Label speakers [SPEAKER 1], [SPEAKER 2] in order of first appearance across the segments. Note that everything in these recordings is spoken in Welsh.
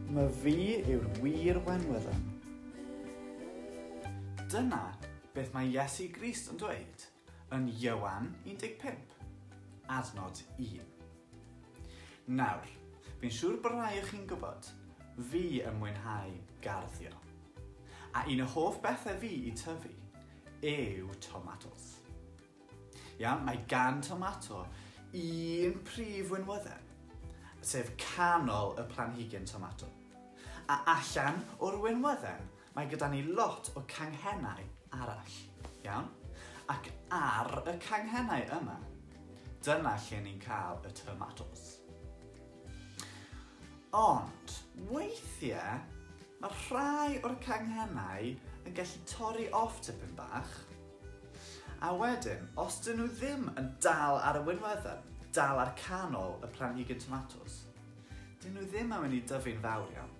[SPEAKER 1] Mae fi yw'r wir wenwydden. Dyna beth mae Iesu Grist yn dweud yn Ioan 15, adnod 1. Nawr, fi'n siŵr bod rhai o chi'n gwybod, fi yn mwynhau garddio. A un o hoff bethau fi i tyfu yw tomatos. Iawn, mae gan tomato un prif winwydden, sef canol y planhigyn tomato. A allan o'r winwydden, mae gyda ni lot o canghennau arall, iawn? Ac ar y canghennau yma, dyna lle ni'n cael y tomatos. Ond, weithiau, mae rhai o'r canghennau yn gallu torri off tipyn bach, A wedyn, os 'dyn nhw ddim yn dal ar y winweddau, dal ar canol y planhigyn tomatos, 'dyn nhw ddim yn mynd i dyfu'n fawr iawn.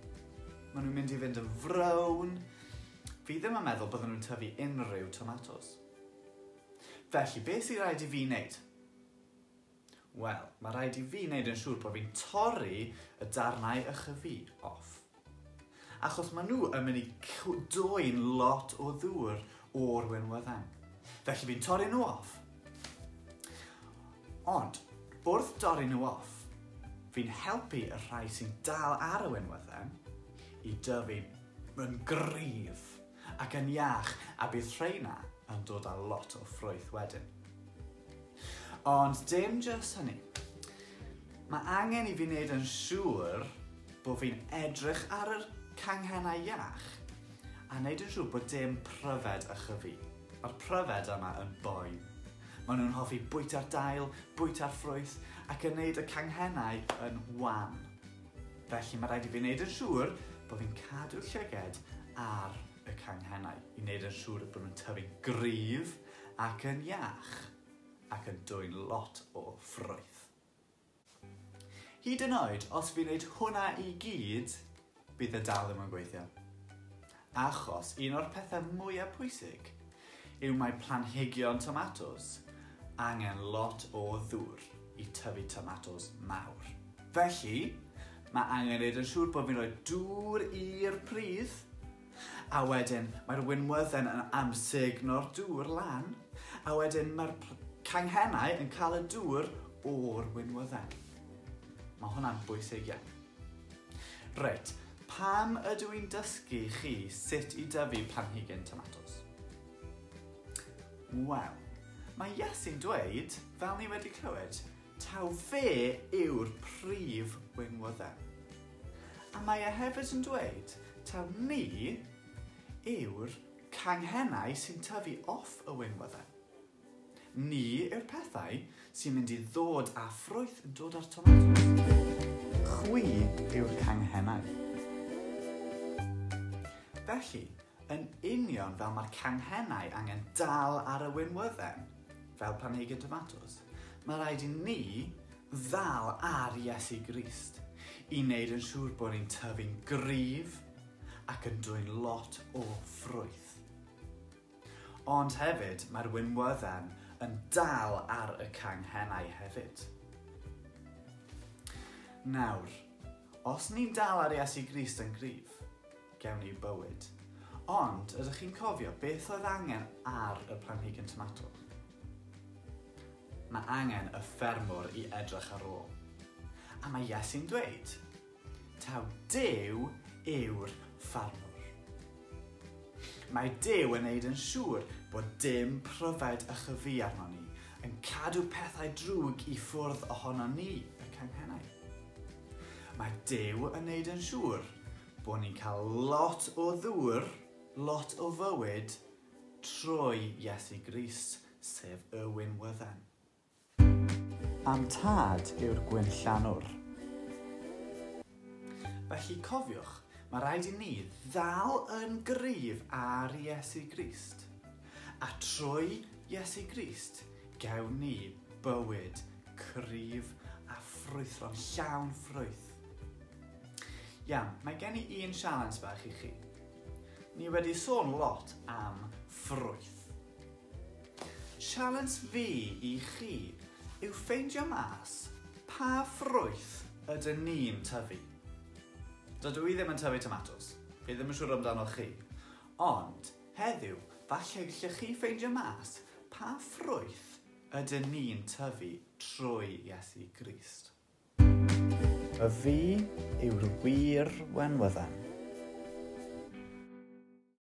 [SPEAKER 1] Maen nhw'n mynd i fynd yn frown. Fi ddim yn meddwl bydden nhw'n tyfu unrhyw tomatos. Felly, beth sy'n rhaid i fi wneud? Wel, mae rhaid i fi wneud yn siŵr bod fi'n torri y darnau ychydig off. Achos maen nhw yn mynd i dwy'n lot o ddŵr o'r wenwyddau. Felly fi'n torri nhw off. Ond, wrth dorri nhw off, fi'n helpu y rhai sy'n dal ar y wenwyddau i dyfu yn gryf. Ac yn iach, a bydd rheina yn dod â lot o ffrwyth wedyn. Ond dim jyst hynny. Mae angen i fi wneud yn siŵr bod fi'n edrych ar yr canghennau iach a wneud yn siŵr bod dim pryfed a chyfu. Mae'r pryfed yma yn boen. Maen nhw'n hoffi bwyta'r dail, bwyta'r ffrwyth ac yn wneud y canghennau yn wan. Felly mae rhaid i fi wneud yn siŵr bod fi'n cadw'r llyged ar y canghennau i wneud yn siŵr bod nhw'n tyfu'n gryf ac yn iach ac yn dwyn lot o ffrwyth. Hyd yn oed os fi'n wneud hwnna i gyd, bydd e dal ddim yn gweithio. Achos un o'r pethau mwyaf pwysig yw mae planhigion tomatos angen lot o ddŵr i tyfu tomatos mawr. Felly, mae angen neud yn siŵr bod fi'n rhoi dŵr i'r pridd, a wedyn mae'r winwydden yn amsugno'r dŵr lan, a wedyn mae'r canghennau yn cael y dŵr o'r winwydden. Mae hwnna'n bwysig iawn. Reit, pam ydw i'n dysgu chi sut i dyfu planhigyn tomatos? Wel, mae Iesu'n dweud, fel ni wedi clywed, taw fe yw'r prif weinwyddau. A mae e hefyd yn dweud taw ni yw'r canghennau sy'n tyfu off y weinwyddau. Ni yw'r pethau sy'n mynd i ddod â ffrwyth yn dod â'r tomatos. Chwi yw'r canghennau. Felly, yn union fel mae'r canghennau angen dal ar y winwydden, fel planhigyn tomatos, mae rhaid i ni ddal ar Iesu Grist i wneud yn siŵr bod ni'n tyfu'n gryf ac yn dwyn lot o ffrwyth. Ond hefyd, mae'r winwydden yn dal ar y canghennau hefyd. Nawr, os ni'n dal ar Iesu Grist yn gryf, gewn ni bywyd. Ond, ydych chi'n cofio beth oedd angen ar y planhigyn tomato? Mae angen y ffermwr i edrych ar ôl. A mae Iesu'n dweud, Taw Duw yw'r ffarmwr. Mae Duw yn neud yn siŵr bod dim pryfed a chyfu arnon ni, yn cadw pethau drwg i ffwrdd ohonon ni, y canghennau. Mae Duw yn neud yn siŵr bod ni'n cael lot o ddŵr, lot o fywyd, trwy Iesu Grist, sef y winwydden. A'm tad yw'r gwinllanwr. Felly, cofiwch, mae rhaid i ni ddal yn gryf ar Iesu Grist. A trwy Iesu Grist, gewn ni bywyd cryf a ffrwythlon, llawn ffrwyth. Iawn, mae gen i un sialens fach i chi. Ni wedi sôn lot am ffrwyth. Sialens fi i chi yw ffeindio mas pa ffrwyth ydyn ni'n tyfu. Dydw i ddim yn tyfu tomatos, fi ddim yn siŵr amdanoch chi, ond heddiw falle gallech chi ffeindio mas pa ffrwyth ydyn ni'n tyfu trwy Iesu Grist. A fi yw'r wir wenwyddan.